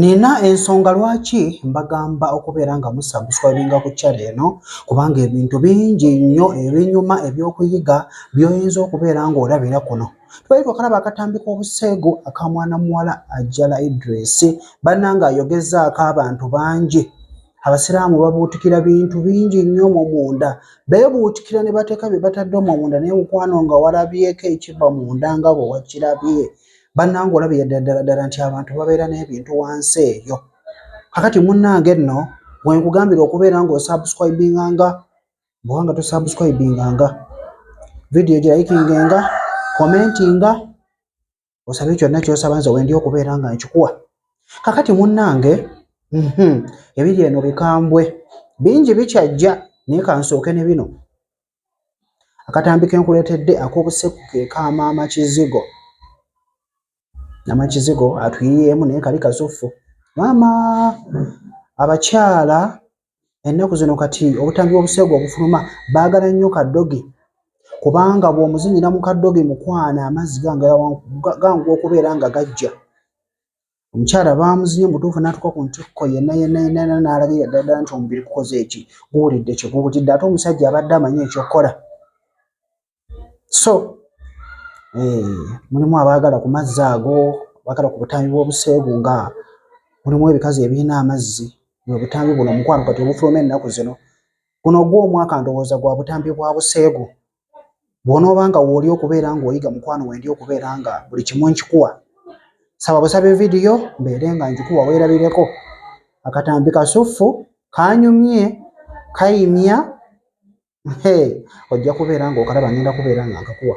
Nina ensonga lwaki mbagamba okubeera nga musabuswabinga ku kyalo eno kubanga ebintu bingi nnyo ebinyuma ebyokuyiga byoyinza okubeera nga olabira kuno twali twakalaba akatambi k'obuseegu aka mwana muwala ajjala idris banna nga ayogezaako abantu bangi abasiraamu babuutikira bintu bingi nnyo mu munda beebuutikira ne bateeka bye batadde omwo munda naye mukwano nga walabyeko ekiva munda nga bwe wakirabye bannange olaba yaddaddaladdala nti abantu babeera n'ebintu wansi eyo kakati munnange nno wenkugambira okubeera ng'osubscribinganga bwewanga tosubscribinganga vidiyo egirayikingenga komentinga osabe kyonna kyosaba nze wendi okubeera nga nkikuwa kakati munnange mhm, ebiri eno bikambwe bingi bikyajja naye kansooke ne bino akatambi kenkuletedde akobuseku kekamaama kizigo nama kizigo atuyiyeemu naye kali kasuffu maama abakyala ennaku zino kati obutambi bwobuseegu obufuluma baagala nnyo kadogi kubanga bwomuzinyira mu kadogi mukwana amazzi ganguwa okubeera nga gajja omukyala baamuzinye mubutuufu n'atuuka ku ntikko yenna yenna yenna yenna n'alabira ddala ddala nti omubiri gukoze eki guwulidde kye guwulidde ate omusajja abadde amanyi ekyokukola so eh, mulimu abaagala ku mazzi ago abaagala ku butambi bw'obuseegu nga mulimu ebikazi ebirina amazzi bwe butambi buno omukwano kati obufuluma ennaku zino guno ogw'omwaka ndowooza gwa butambi bwa buseegu bw'onooba nga wooli okubeera ng'oyiga mukwano wendi okubeera nga buli kimu nkikuwa saba busabe vidiyo mbeere nga nkikuwa weerabireko akatambi kasuffu kanyumye kayimya ojja kubeera ng'okalaba ngenda kubeera nga nkakuwa